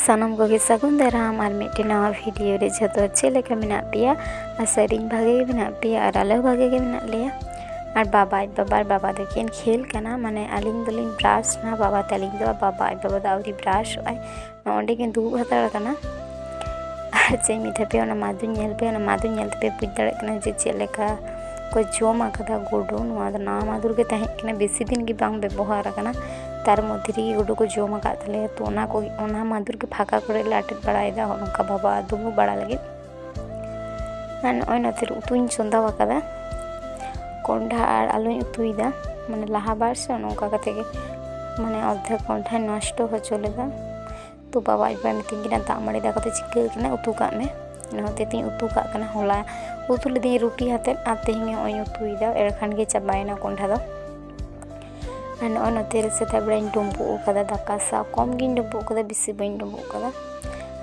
ᱥᱟᱱᱟᱢ ᱠᱚᱜᱮ ᱥᱟᱹᱜᱩᱱ ᱫᱟᱨᱟᱢ ᱟᱨ ᱢᱤᱫᱴᱮᱱ ᱱᱟᱣᱟ ᱵᱷᱤᱰᱤᱭᱳ ᱨᱮ ᱡᱷᱚᱛᱚ ᱪᱮᱫ ᱞᱮᱠᱟ ᱢᱮᱱᱟᱜ ᱯᱮᱭᱟ ᱟᱥᱟᱨᱤᱧ ᱵᱷᱟᱜᱮ ᱜᱮ ᱢᱮᱱᱟᱜ ᱯᱮᱭᱟ ᱟᱨ ᱟᱞᱮ ᱦᱚᱸ ᱵᱷᱟᱜᱮ ᱜᱮ ᱢᱮᱱᱟᱜ ᱞᱮᱭᱟ ᱟᱨ ᱵᱟᱵᱟ ᱟᱡ ᱵᱟᱵᱟ ᱟᱨ ᱵᱟᱵᱟ ᱫᱚᱠᱤᱱ ᱠᱷᱮᱞ ᱠᱟᱱᱟ ᱢᱟᱱᱮ ᱟᱹᱞᱤᱧ ᱫᱚᱞᱤᱧ ᱵᱨᱟᱥ ᱱᱟ ᱵᱟᱵᱟ ᱛᱟᱹᱞᱤᱧ ᱫᱚ ᱵᱟᱵᱟ ᱟᱡ ᱵᱟᱵᱟ ᱫᱚ ᱟᱹᱣᱨᱤ ᱵᱨᱟᱥᱚᱜᱼᱟᱭ ᱱᱚᱸᱰᱮ ᱠᱤᱱ ᱫᱩᱲᱩᱵ ᱦᱟᱛᱟᱲ ᱠᱟᱱᱟ ᱟᱨ ᱪᱮᱫ ᱤᱧ ᱢᱮᱛᱟ ᱯᱮᱭᱟ ᱚᱱᱟ ᱢᱟᱫᱩᱧ ᱧᱮᱞ ᱯᱮᱭᱟ ᱚᱱᱟ ᱢᱟᱫᱩᱧ ᱧᱮᱞ ᱛᱮᱯᱮ ᱵᱩᱡᱽ ᱫᱟᱲᱮᱭᱟᱜ ᱠᱟᱱᱟ ᱡᱮ ᱪᱮᱫ ᱞᱮᱠᱟ ᱠᱚ ᱡᱚᱢ ᱟᱠᱟᱫᱟ ᱜᱩᱰᱩ ᱱᱚᱣᱟ ᱫᱚ ᱱᱟᱣᱟ ᱢᱟᱫᱩᱨ ᱜᱮ ᱛᱟᱦᱮᱸ ᱠᱟᱱᱟ ᱵᱮᱥᱤ ᱫᱤᱱ ᱜᱮ ᱵᱟᱝ ᱵᱮᱵᱚᱦᱟᱨ ᱠᱟᱱᱟ ᱛᱟᱨ ᱢᱚᱫᱽᱫᱷᱮ ᱨᱮᱜᱮ ᱜᱩᱰᱩ ᱠᱚ ᱡᱚᱢ ᱟᱠᱟᱫ ᱛᱟᱞᱮᱭᱟ ᱛᱚ ᱚᱱᱟ ᱠᱚᱜᱮ ᱚᱱᱟ ᱢᱟᱫᱷᱮᱨ ᱜᱮ ᱯᱷᱟᱸᱠᱟ ᱠᱚᱨᱮ ᱞᱮ ᱟᱴᱮᱫ ᱵᱟᱲᱟᱭᱮᱫᱟ ᱦᱚᱸᱜᱼᱚ ᱱᱚᱝᱠᱟ ᱵᱟᱵᱟ ᱫᱩᱢᱩᱜ ᱵᱟᱲᱟ ᱞᱟᱹᱜᱤᱫ ᱟᱨ ᱱᱚᱜᱼᱚᱭ ᱱᱚᱛᱮ ᱨᱮ ᱩᱛᱩᱧ ᱪᱚᱸᱫᱟ ᱟᱠᱟᱫᱟ ᱠᱚᱸᱰᱷᱟ ᱟᱨ ᱟᱞᱩᱧ ᱩᱛᱩᱭᱮᱫᱟ ᱢᱟᱱᱮ ᱞᱟᱦᱟ ᱵᱟᱨ ᱥᱮ ᱱᱚᱝᱠᱟ ᱠᱟᱛᱮ ᱜᱮ ᱢᱟᱱᱮ ᱚᱨᱫᱷᱮᱠ ᱠᱚᱸᱰᱷᱟᱧ ᱱᱚᱥᱴᱚ ᱦᱚᱪᱚ ᱞᱮᱫᱟ ᱛᱚ ᱵᱟᱵᱟ ᱟᱡ ᱵᱟᱵᱟᱭ ᱢᱤᱛᱟᱹᱧ ᱠᱟᱱᱟ ᱫᱟᱜ ᱢᱟᱹᱰᱤ ᱫᱟᱠᱟ ᱫᱚ ᱪᱤᱠᱟᱹ ᱠᱟᱱᱟ ᱩᱛᱩ ᱠᱟᱜ ᱢᱮ ᱚᱱᱟ ᱦᱚᱛᱮᱡ ᱛᱮᱧ ᱩᱛᱩ ᱠᱟᱜ ᱠᱟᱱᱟ ᱦᱚᱞᱟ ᱩᱛᱩ ᱞᱤᱫᱟᱹᱧ ᱨᱩᱴᱤ ᱟᱛᱮᱫ ᱟᱨ ᱛᱮᱦᱮᱧ ᱱᱚᱜᱼᱚᱭ ᱤᱧ ᱩᱛᱩᱭᱮᱫᱟ ᱮᱨ ᱠᱷᱟᱱ ᱜᱮ ᱪᱟᱵᱟᱭᱮᱱᱟ ᱠᱚᱸᱰᱷᱟ ᱫᱚ ᱟᱨ ᱱᱚᱜᱼᱚᱭ ᱱᱚᱛᱮ ᱨᱮ ᱥᱮᱛᱟᱜ ᱵᱮᱲᱟᱧ ᱰᱩᱸᱵᱩᱜ ᱟᱠᱟᱫᱟ ᱫᱟᱠᱟ ᱥᱟᱶ ᱠᱚᱢ ᱜᱤᱧ ᱰᱩᱸᱵᱩᱜ ᱟᱠᱟᱫᱟ ᱵᱮᱥᱤ ᱵᱟᱹᱧ ᱰᱩᱸᱵᱩᱜ ᱟᱠᱟᱫᱟ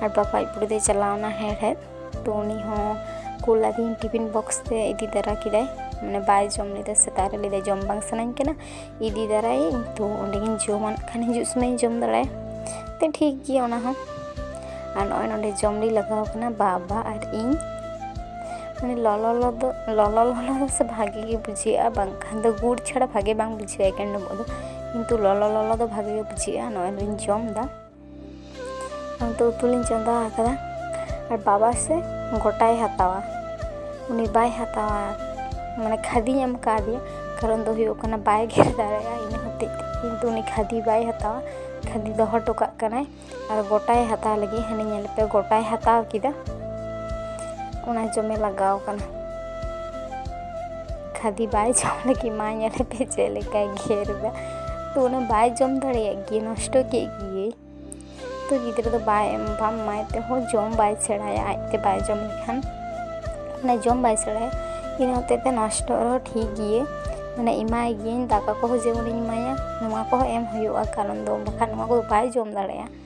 ᱟᱨ ᱵᱟᱵᱟ ᱟᱡ ᱵᱩᱰᱤ ᱫᱚᱭ ᱪᱟᱞᱟᱣᱱᱟ ᱦᱮᱲᱦᱮᱫ ᱛᱚ ᱩᱱᱤ ᱦᱚᱸ ᱠᱩᱞ ᱟᱫᱮᱧ ᱴᱤᱯᱷᱤᱱ ᱵᱚᱠᱥ ᱛᱮ ᱤᱫᱤ ᱛᱟᱨᱟ ᱠᱮᱫᱟᱭ ᱢᱟᱱᱮ ᱵᱟᱭ ᱡᱚᱢ ᱞᱮᱫᱟ ᱥᱮᱛᱟᱜ ᱨᱮ ᱞᱟᱹᱭᱫᱟᱭ ᱡᱚᱢ ᱵᱟᱝ ᱥᱟᱱᱟᱧ ᱠᱟᱱᱟ ᱤᱫᱤ ᱫᱟᱨᱟᱭᱟᱹᱧ ᱛᱚ ᱚᱸᱰᱮᱜᱤᱧ ᱡᱚᱢᱟ ᱠᱷᱟᱱ ᱦᱤᱡᱩᱜ ᱥᱚᱢᱚᱭᱤᱧ ᱡᱚᱢ ᱫᱟᱲᱮᱭᱟᱜᱼᱟ ᱛᱚ ᱴᱷᱤᱠ ᱜᱮᱭᱟ ᱚᱱᱟ ᱦᱚᱸ ᱟᱨ ᱱᱚᱜᱼᱚᱭ ᱱᱚᱸᱰᱮ ᱡᱚᱢ ᱞᱤᱧ ᱞᱟᱜᱟᱣ ᱠᱟᱱᱟ ᱵᱟᱵᱟ ᱟᱨ ᱤᱧ ᱢᱟᱱᱮ ᱞᱚᱞᱚ ᱞᱚᱞᱚ ᱫᱚ ᱞᱚᱞᱚ ᱞᱚᱞᱚ ᱫᱚ ᱥᱮ ᱵᱷᱟᱜᱮ ᱜᱮ ᱵᱩᱡᱷᱟᱹᱜᱼᱟ ᱵᱟᱝᱠᱷᱟᱱ ᱫᱚ ᱜᱩᱲ ᱪᱷᱟᱲᱟ ᱵᱷᱟᱜᱮ ᱵᱟᱝ ᱵᱩᱡᱷᱟᱹᱜᱼᱟ ᱮᱠᱮᱱ ᱰᱳᱵᱳᱜ ᱫᱚ ᱠᱤᱱᱛᱩ ᱞᱚᱞᱚ ᱞᱚᱞᱚ ᱫᱚ ᱵᱷᱟᱜᱮ ᱜᱮ ᱵᱩᱡᱷᱟᱹᱜᱼᱟ ᱱᱚᱜᱼᱚᱭ ᱞᱤᱧ ᱡᱚᱢᱫᱟ ᱚᱱᱛᱮ ᱩᱛᱩ ᱞᱤᱧ ᱪᱚᱸᱫᱟ ᱟᱠᱟᱫᱟ ᱟᱨ ᱵᱟᱵᱟ ᱥᱮ ᱜᱚᱴᱟᱭ ᱦᱟᱛᱟᱣᱟ ᱩᱱᱤ ᱵᱟᱭ ᱦᱟᱛᱟᱣᱟ ᱢᱟᱱᱮ ᱠᱷᱟᱫᱤᱧ ᱮᱢ ᱠᱟᱣᱫᱮᱭᱟ ᱠᱟᱨᱚᱱ ᱫᱚ ᱦᱩᱭᱩᱜ ᱠᱟᱱᱟ ᱵᱟᱭ ᱜᱮᱨ ᱫᱟᱲᱮᱭᱟᱜᱼᱟ ᱤᱱᱟᱹ ᱦᱚᱛᱮᱡ ᱛᱮ ᱠᱤᱱᱛᱩ ᱩᱱᱤ ᱠᱷᱟᱫᱤ ᱵᱟᱭ ᱦᱟᱛᱟᱣᱟ ᱠᱷᱟᱫᱤ ᱫᱚᱦᱚ ᱦᱚᱴᱚ ᱠᱟᱜ ᱠᱟᱱᱟᱭ ᱟᱨ ᱜᱚᱴᱟᱭ ᱦᱟᱛᱟᱣ ᱞᱟᱹᱜᱤᱫ ᱦᱟᱹᱱᱤ ᱧᱮᱞ ᱯᱮ ᱜᱚᱴᱟᱭ ᱦᱟᱛᱟᱣ ᱠᱮᱫᱟ ᱚᱱᱟ ᱡᱚᱢᱮ ᱞᱟᱜᱟᱣ ᱠᱟᱱᱟ ᱠᱷᱟᱫᱤ ᱵᱟᱭ ᱡᱚᱢ ᱞᱟᱹᱜᱤᱫ ᱢᱟ ᱧᱮᱞᱮ ᱯᱮ ᱪᱮᱫ ᱞᱮᱠᱟᱭ ᱜᱮᱨ ᱮᱫᱟ ᱛᱚ ᱚᱱᱟ ᱵᱟᱭ ᱡᱚᱢ ᱫᱟᱲᱮᱭᱟᱜ ᱜᱮ ᱱᱚᱥᱴᱚ ᱠᱮᱫ ᱜᱮᱭᱟᱭ ᱛᱚ ᱜᱤᱫᱽᱨᱟᱹ ᱫᱚ ᱵᱟᱭ ᱮᱢ ᱵᱟᱢ ᱮᱢᱟᱭ ᱛᱮᱦᱚᱸ ᱡᱚᱢ ᱵᱟᱭ ᱥᱮᱬᱟᱭᱟ ᱟᱡᱛᱮ ᱵᱟᱭ ᱡᱚᱢ ᱞᱮᱠᱷᱟᱱ ᱢᱟᱱᱮ ᱡᱚᱢ ᱵᱟᱭ ᱥᱮᱬᱟᱭᱟ ᱤᱱᱟᱹ ᱦᱚᱛᱮᱡ ᱛᱮ ᱱᱚᱥᱴᱚ ᱨᱮᱦᱚᱸ ᱴᱷᱤᱠ ᱜᱮᱭᱟ ᱢᱟᱱᱮ ᱮᱢᱟᱭ ᱜᱤᱭᱟᱹᱧ ᱫᱟᱠᱟ ᱠᱚᱦᱚᱸ ᱡᱮᱢᱚᱱᱤᱧ ᱮᱢᱟᱭᱟ ᱱᱚᱣᱟ ᱠᱚᱦᱚᱸ ᱮᱢ ᱦᱩᱭᱩᱜᱼᱟ ᱠᱟᱨᱚᱱ ᱫᱚ ᱵᱟᱠᱷᱟᱱ ᱱᱚᱣᱟ ᱠᱚᱫᱚ ᱵᱟᱭ ᱡᱚᱢ ᱫᱟᱲᱮᱭᱟᱜᱼᱟ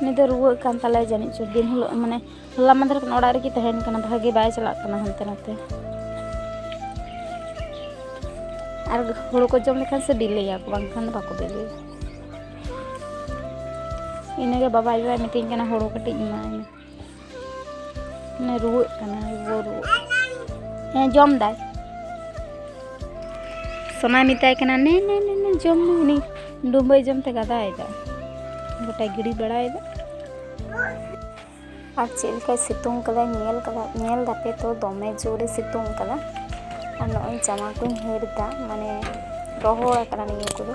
ᱩᱱᱤ ᱫᱚ ᱨᱩᱣᱟᱹᱜ ᱠᱟᱱ ᱛᱟᱞᱮ ᱡᱟᱹᱱᱤᱡ ᱪᱚ ᱫᱤᱱ ᱦᱤᱞᱳᱜ ᱢᱟᱱᱮ ᱦᱚᱞᱟ ᱢᱟᱫᱷᱮᱨ ᱠᱷᱚᱱ ᱚᱲᱟᱜ ᱨᱮᱜᱮ ᱛᱟᱦᱮᱱ ᱠᱟᱱᱟ ᱵᱷᱟᱜᱮ ᱵᱟᱭ ᱪᱟᱞᱟᱜ ᱠᱟᱱᱟ ᱦᱟᱱᱛᱮ ᱱᱟᱛᱮ ᱟᱨ ᱦᱳᱲᱳ ᱠᱚ ᱡᱚᱢ ᱞᱮᱠᱷᱟᱱ ᱥᱮ ᱵᱤᱞᱤᱭᱟ ᱠᱚ ᱵᱟᱝᱠᱷᱟᱱ ᱫᱚ ᱵᱟᱠᱚ ᱵᱤᱞᱤᱭᱟ ᱤᱱᱟᱹᱜᱮ ᱵᱟᱵᱟ ᱟᱭᱳ ᱢᱤᱛᱟᱹᱧ ᱠᱟᱱᱟ ᱦᱳᱲᱳ ᱠᱟᱹᱴᱤᱡ ᱮᱢᱟᱭ ᱢᱮ ᱢᱟᱱᱮ ᱨᱩᱣᱟᱹᱜ ᱠᱟᱱᱟ ᱨᱩᱣᱟᱹ ᱨᱩᱣᱟᱹ ᱦᱮᱸ ᱡᱚᱢ ᱫᱟᱭ ᱥᱚᱱᱟᱭ ᱢᱮᱛᱟᱭ ᱠᱟᱱᱟ ᱱᱮ ᱱᱮ ᱱᱮ ᱱᱮ ᱡᱚᱢ ᱢᱮ ᱩᱱᱤ ᱰᱩᱢᱵᱟᱹᱭ ᱡᱚᱢ ᱛᱮ ᱜᱟᱫᱟᱭᱮᱫᱟ ᱜᱚᱴᱟ ᱜᱤᱰᱤ ᱵᱟᱲᱟᱭᱮᱫᱟ ᱟᱨ ᱪᱮᱫ ᱞᱮᱠᱟᱭ ᱥᱤᱛᱩᱝ ᱠᱟᱫᱟ ᱧᱮᱞ ᱠᱟᱫᱟ ᱧᱮᱞ ᱫᱟᱯᱮ ᱛᱚ ᱫᱚᱢᱮ ᱡᱳᱨᱮ ᱥᱤᱛᱩᱝ ᱠᱟᱫᱟ ᱟᱨ ᱱᱚᱜᱼᱚᱭ ᱡᱟᱢᱟ ᱠᱚᱧ ᱦᱟᱹᱨ ᱮᱫᱟ ᱢᱟᱱᱮ ᱨᱚᱦᱚᱲ ᱟᱠᱟᱱᱟ ᱱᱤᱭᱟᱹ ᱠᱚᱫᱚ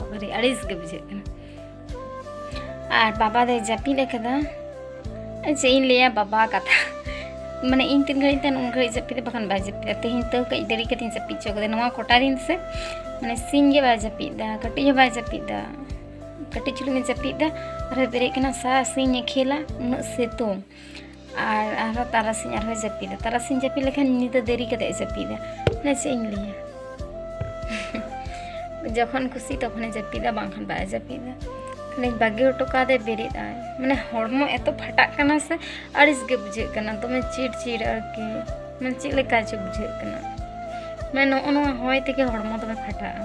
ᱵᱟᱵᱟᱨᱮ ᱟᱹᱲᱤᱥ ᱜᱮ ᱵᱩᱡᱷᱟᱹᱜ ᱠᱟᱱᱟ ᱟᱨ ᱵᱟᱵᱟ ᱫᱚᱭ ᱡᱟᱹᱯᱤᱫ ᱟᱠᱟᱫᱟ ᱪᱮᱫ ᱤᱧ ᱞᱟᱹᱭᱟ ᱵᱟᱵᱟ ᱠᱟᱛᱷᱟ ᱢᱟᱱᱮ ᱤᱧ ᱛᱤᱱ ᱜᱷᱟᱹᱲᱤᱡ ᱛᱟᱦᱮᱱ ᱩᱱ ᱜᱷᱟᱹᱲᱤᱡ ᱡᱟᱹᱯᱤᱫᱟ ᱵᱟᱠᱷᱟᱱ ᱵᱟᱭ ᱡᱟᱹᱯᱤᱫᱟ ᱛᱮᱦᱮᱧ ᱛᱟᱹᱣ ᱠᱟᱹᱡ ᱫᱮᱨᱤ ᱠᱟᱛᱮᱧ ᱡᱟᱹᱯᱤᱫ ᱦᱚᱪᱚ ᱠᱟᱫᱟ ᱱᱚᱣᱟ ᱠᱚᱴᱟ ᱫᱤᱱ ᱥᱮ ᱢᱟᱱᱮ ᱥᱤᱧ ᱜᱮ ᱵᱟᱭ ᱡᱟᱹᱯᱤᱫᱟ ᱠᱟᱹᱴᱤᱡ ᱦᱚᱸ ᱵᱟᱭ ᱡᱟᱹᱯᱤᱫᱟ ᱠᱟᱹᱴᱤᱡ ᱪᱩᱞᱩᱝ ᱮ ᱡᱟᱹᱯᱤᱫᱟ ᱟᱨᱦᱚᱸ ᱵᱮᱨᱮᱫ ᱠᱟᱱᱟ ᱥᱟᱨᱟ ᱥᱤᱧ ᱮ ᱠᱷᱮᱞᱟ ᱩᱱᱟᱹᱜ ᱥᱤᱛᱩᱝ ᱟᱨ ᱟᱨᱦᱚᱸ ᱛᱟᱨᱟᱥᱤᱧ ᱟᱨᱦᱚᱸ ᱡᱟᱹᱯᱤᱫᱟ ᱛᱟᱨᱟᱥᱤᱧ ᱡᱟᱹᱯᱤᱫ ᱞᱮᱠᱷᱟᱱ ᱧᱤᱫᱟᱹ ᱫᱮᱨᱤ ᱠᱟᱛᱮ ᱡᱟᱹᱯᱤᱫᱟ ᱢᱟᱱᱮ ᱪᱮᱫ ᱤᱧ ᱞᱟᱹᱭᱟ ᱡᱚᱠᱷᱚᱱ ᱠᱩᱥᱤ ᱛᱚᱠᱷᱚᱱᱮ ᱡᱟᱹᱯᱤᱫᱟ ᱵᱟᱝᱠᱷᱟᱱ ᱵᱟᱭ ᱡᱟᱹᱯᱤᱫᱟ ᱛᱟᱦᱞᱮᱧ ᱵᱟᱹᱜᱤ ᱦᱚᱴᱚ ᱠᱟᱫᱮ ᱵᱮᱨᱮᱫ ᱟᱭ ᱢᱟᱱᱮ ᱦᱚᱲᱢᱚ ᱮᱛᱚ ᱯᱷᱟᱴᱟᱜ ᱠᱟᱱᱟ ᱥᱮ ᱟᱹᱲᱤᱥ ᱜᱮ ᱵᱩᱡᱷᱟᱹᱜ ᱠᱟᱱᱟ ᱫᱚᱢᱮ ᱪᱤᱲ ᱪᱤᱲ ᱟᱨᱠᱤ ᱢᱟᱱᱮ ᱪᱮᱫ ᱞᱮᱠᱟ ᱪᱚ ᱵᱩᱡᱷᱟᱹᱜ ᱠᱟᱱᱟ ᱢᱟᱱᱮ ᱱᱚᱜᱼᱚ ᱱᱚᱣᱟ ᱦᱚᱭ ᱛᱮᱜᱮ ᱦᱚᱲᱢᱚ ᱫᱚᱢᱮ ᱯᱷᱟᱴᱟᱜᱼᱟ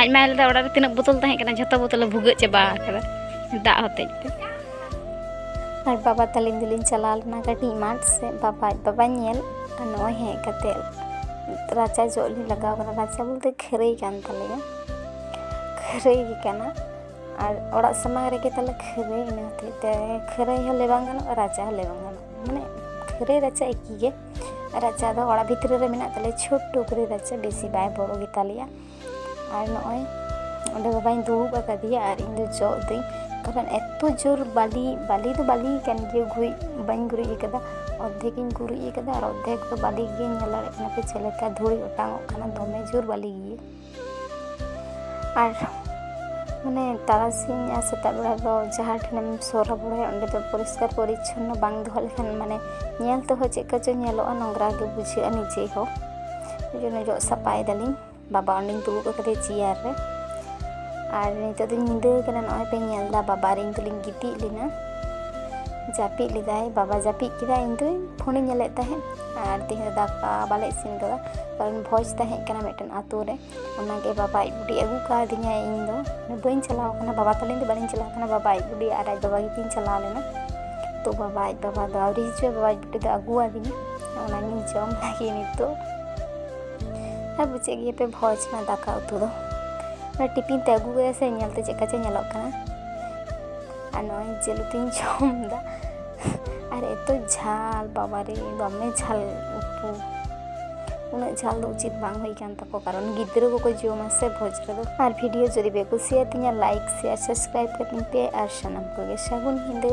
ᱟᱡ ᱢᱟᱭ ᱞᱮᱫᱟ ᱚᱲᱟᱜ ᱨᱮ ᱛᱤᱱᱟᱹᱜ ᱵᱳᱛᱚᱞ ᱛᱟᱦᱮᱸ ᱠᱟᱱᱟ ᱡᱷᱚᱛᱚ ᱵᱳᱛᱚᱞ ᱮ ᱵᱷᱩᱜᱟᱹᱜ ᱪᱟᱵᱟ ᱟᱠᱟᱫᱟ ᱫᱟᱜ ᱦᱚᱛᱮᱡ ᱛᱮ ᱟᱨ ᱵᱟᱵᱟ ᱛᱟᱹᱞᱤᱧ ᱫᱚᱞᱤᱧ ᱪᱟᱞᱟᱣ ᱞᱮᱱᱟ ᱠᱟᱹᱴᱤᱡ ᱢᱟᱴᱷ ᱥᱮ ᱵᱟᱵᱟ ᱵᱟᱵᱟᱧ ᱧᱮᱞ ᱟᱨ ᱱᱚᱜᱼᱚᱭ ᱦᱮᱡ ᱠᱟᱛᱮ ᱨᱟᱪᱟ ᱡᱚᱜ ᱞᱤᱧ ᱞᱟᱜᱟᱣ ᱠᱟᱱᱟ ᱨᱟᱪᱟ ᱵᱚᱞᱛᱮ ᱠᱷᱟᱹᱨᱟᱹᱭ ᱠᱟᱱ ᱛᱟᱞᱮᱭᱟ ᱠᱷᱟᱹᱨᱟᱹᱭ ᱜᱮ ᱠᱟᱱᱟ ᱟᱨ ᱚᱲᱟᱜ ᱥᱟᱢᱟᱝ ᱨᱮᱜᱮ ᱛᱟᱞᱮ ᱠᱷᱟᱹᱨᱟᱹᱭ ᱤᱱᱟᱹ ᱦᱚᱛᱮᱡ ᱛᱮ ᱠᱷᱟᱹᱨᱟᱹᱭ ᱦᱚᱸ ᱞᱟᱹᱭ ᱵᱟᱝ ᱜᱟᱱᱚᱜᱼᱟ ᱨᱟᱪᱟ ᱦᱚᱸ ᱞᱟᱹᱭ ᱵᱟᱝ ᱜᱟᱱᱚᱜᱼᱟ ᱢᱟᱱᱮ ᱠᱷᱟᱹᱨᱟᱹᱭ ᱨᱟᱪᱟ ᱮᱠᱤ ᱜᱮ ᱨᱟᱪᱟ ᱫᱚ ᱚᱲᱟᱜ ᱵᱷᱤᱛᱨᱤ ᱨᱮ ᱢᱮᱱᱟᱜ ᱛᱟᱞᱮᱭᱟ ᱪᱷᱩᱴ ᱴᱩᱠᱨᱤ ᱨᱟᱪᱟ ᱵᱮᱥᱤ ᱵᱟᱭ ᱵᱚᱲᱚ ᱜᱮᱛᱟᱞᱮᱭᱟ ᱟᱨ ᱱᱚᱜᱼᱚᱭ ᱚᱸᱰᱮ ᱵᱟᱵᱟᱧ ᱫᱩᱲᱩᱵ ᱟᱠᱟᱫᱮᱭᱟ ᱟᱨ ᱤᱧ ᱫᱚ ᱡᱚᱜ ᱫᱟᱹᱧ ᱠᱟᱨᱚᱱ ᱮᱛᱚ ᱡᱳᱨ ᱵᱟᱞᱤ ᱵᱟᱞᱤ ᱫᱚ ᱵᱟᱞᱤ ᱠᱟᱱ ᱜᱮᱭᱟ ᱜᱩᱨᱤᱡ ᱵᱟᱹᱧ ᱜᱩᱨᱤᱡ ᱟᱠᱟᱫᱟ ᱚᱨᱫᱷᱮᱠ ᱤᱧ ᱜᱩᱨᱤᱡ ᱟᱠᱟᱫᱟ ᱟᱨ ᱚᱨᱫᱷᱮᱠ ᱫᱚ ᱵᱟᱞᱤ ᱜᱮᱭᱟ ᱧᱮᱞ ᱫᱟᱲᱮᱭᱟᱜ ᱠᱟᱱᱟ ᱯᱮ ᱪᱮᱫ ᱞᱮᱠᱟ ᱫᱷᱩᱲᱤ ᱚᱴᱟᱝ ᱚᱜ ᱠᱟᱱᱟ ᱫᱚᱢᱮ ᱡᱳᱨ ᱵᱟᱞᱤ ᱜᱮᱭᱟ ᱟᱨ ᱢᱟᱱᱮ ᱛᱟᱨᱟᱥᱤᱧ ᱟᱨ ᱥᱮᱛᱟᱜ ᱵᱮᱲᱟ ᱫᱚ ᱡᱟᱦᱟᱸ ᱴᱷᱮᱱᱮᱢ ᱥᱚᱨᱟ ᱵᱚᱲᱟᱭᱟ ᱚᱸᱰᱮ ᱫᱚ ᱯᱚᱨᱤᱥᱠᱟᱨ ᱯᱚᱨᱤᱪᱷᱚᱱᱱᱚ ᱵᱟᱝ ᱫᱚᱦᱚ ᱞᱮᱠᱷᱟᱱ ᱢᱟᱱᱮ ᱧᱮᱞ ᱛᱮᱦᱚᱸ ᱪᱮᱫ ᱠᱚᱪᱚ ᱧᱮᱞᱚᱜᱼᱟ ᱱᱚᱝᱨᱟ ᱜᱮ ᱵᱩᱡᱷᱟᱹᱜᱼᱟ ᱱᱤᱡᱮ ᱦᱚᱸ ᱳᱭ ᱡᱚᱱᱱᱚ ᱡᱚᱜ ᱥᱟᱯᱷᱟᱭ ᱫᱟᱞᱤᱧ ᱵᱟᱵᱟ ᱚᱸᱰᱮᱧ ᱫᱩᱲᱩᱵ ᱟᱠᱟᱫᱮᱭᱟ ᱪᱮᱭᱟᱨ ᱨᱮ ᱟᱨ ᱱᱤᱛᱚᱜ ᱫᱚᱧ ᱧᱤᱫᱟᱹ ᱠᱟᱱᱟ ᱱᱚᱜᱼᱚᱭ ᱯᱮ ᱧᱮᱞ ᱮᱫᱟ ᱵᱟᱵᱟ ᱟᱨ ᱤᱧ ᱫᱚᱞᱤᱧ ᱜᱤᱛᱤᱡ ᱞᱮᱱᱟ ᱡᱟᱹᱯᱤᱫ ᱞᱮᱫᱟᱭ ᱵᱟᱵᱟ ᱡᱟᱹᱯᱤᱫ ᱠᱮᱫᱟᱭ ᱤᱧ ᱫᱚ ᱯᱷᱳᱱᱤᱧ ᱧᱮᱞᱮᱫ ᱛᱟᱦᱮᱸᱫ ᱟᱨ ᱛᱮᱦᱮᱧ ᱫᱚ ᱫᱟᱠᱟ ᱵᱟᱞᱮ ᱤᱥᱤᱱ ᱠᱟᱫᱟ ᱠᱟᱨᱚᱱ ᱵᱷᱚᱡᱽ ᱛᱟᱦᱮᱸ ᱠᱟᱱᱟ ᱢᱤᱫᱴᱮᱱ ᱟᱛᱳ ᱨᱮ ᱚᱱᱟᱜᱮ ᱵᱟᱵᱟ ᱟᱡ ᱵᱩᱰᱤ ᱟᱹᱜᱩ ᱠᱟᱣᱫᱤᱧᱟᱭ ᱤᱧ ᱫᱚ ᱵᱟᱹᱧ ᱪᱟᱞᱟᱣ ᱠᱟᱱᱟ ᱵᱟᱵᱟ ᱛᱟᱹᱞᱤᱧ ᱫᱚ ᱵᱟᱹᱞᱤᱧ ᱪᱟᱞᱟᱣ ᱠᱟᱱᱟ ᱵᱟᱵᱟ ᱟᱡ ᱵᱩᱰᱤ ᱟᱨ ᱟᱡ ᱵᱟᱵᱟ ᱜᱮᱠᱤᱱ ᱪᱟᱞᱟᱣ ᱞᱮᱱᱟ ᱛᱚ ᱵᱟᱵᱟ ᱟᱡ ᱵᱟᱵᱟ ᱫᱚ ᱟᱹᱣᱨᱤ ᱦᱤᱡᱩᱜᱼᱟ ᱵᱟᱵᱟ ᱟᱡ ᱵᱩᱰᱤ ᱫᱚ ᱟᱹᱜᱩᱣᱟᱫᱤᱧᱟ ᱚᱱᱟᱜᱤᱧ ᱡᱚᱢ ᱞᱟᱹᱜᱤᱫ ᱱᱤᱛᱚᱜ ᱟᱨ ᱵᱩᱡᱮᱫ ᱜᱮᱭᱟᱯᱮ ᱵᱷᱚᱡᱽ ᱢᱟ ᱫᱟᱠᱟ ᱩᱛᱩ ᱫᱚ ᱚᱱᱟ ᱴᱤᱯᱤᱱ ᱛᱮ ᱟᱹᱜᱩ ᱠᱮᱫᱟ ᱥᱮ ᱧᱮᱞᱛᱮ ᱪᱮᱫᱠᱟ ᱪᱚ ᱧᱮᱞᱚᱜ ᱠᱟᱱᱟ ᱟᱨ ᱱᱚᱜᱼᱚᱭ ᱡᱤᱞ ᱩᱛᱩᱧ ᱡᱚᱢᱫᱟ ᱟᱨ ᱮᱛᱚ ᱡᱷᱟᱞ ᱵᱟᱵᱟᱨᱮ ᱫᱚᱢᱮ ᱡᱷᱟᱞ ᱩᱛᱩ ᱩᱱᱟᱹᱜ ᱡᱷᱟᱞ ᱫᱚ ᱩᱪᱤᱛ ᱵᱟᱝ ᱦᱩᱭ ᱠᱟᱱ ᱛᱟᱠᱚ ᱠᱟᱨᱚᱱ ᱜᱤᱫᱽᱨᱟᱹ ᱠᱚᱠᱚ ᱡᱚᱢᱟ ᱥᱮ ᱵᱷᱚᱡᱽ ᱨᱮᱫᱚ ᱟᱨ ᱵᱷᱤᱰᱤᱭᱳ ᱡᱩᱫᱤ ᱯᱮ ᱠᱩᱥᱤᱭᱟᱛᱤᱧᱟ ᱞᱟᱭᱤᱠ ᱥᱮᱭᱟᱨ ᱥᱟᱵᱥᱠᱨᱟᱭᱤᱵ ᱠᱟᱛᱤᱧ ᱯᱮ ᱟᱨ ᱥᱟᱱᱟᱢ ᱠᱚᱜᱮ ᱥᱟᱹᱜᱩᱱ ᱧᱤᱫᱟᱹ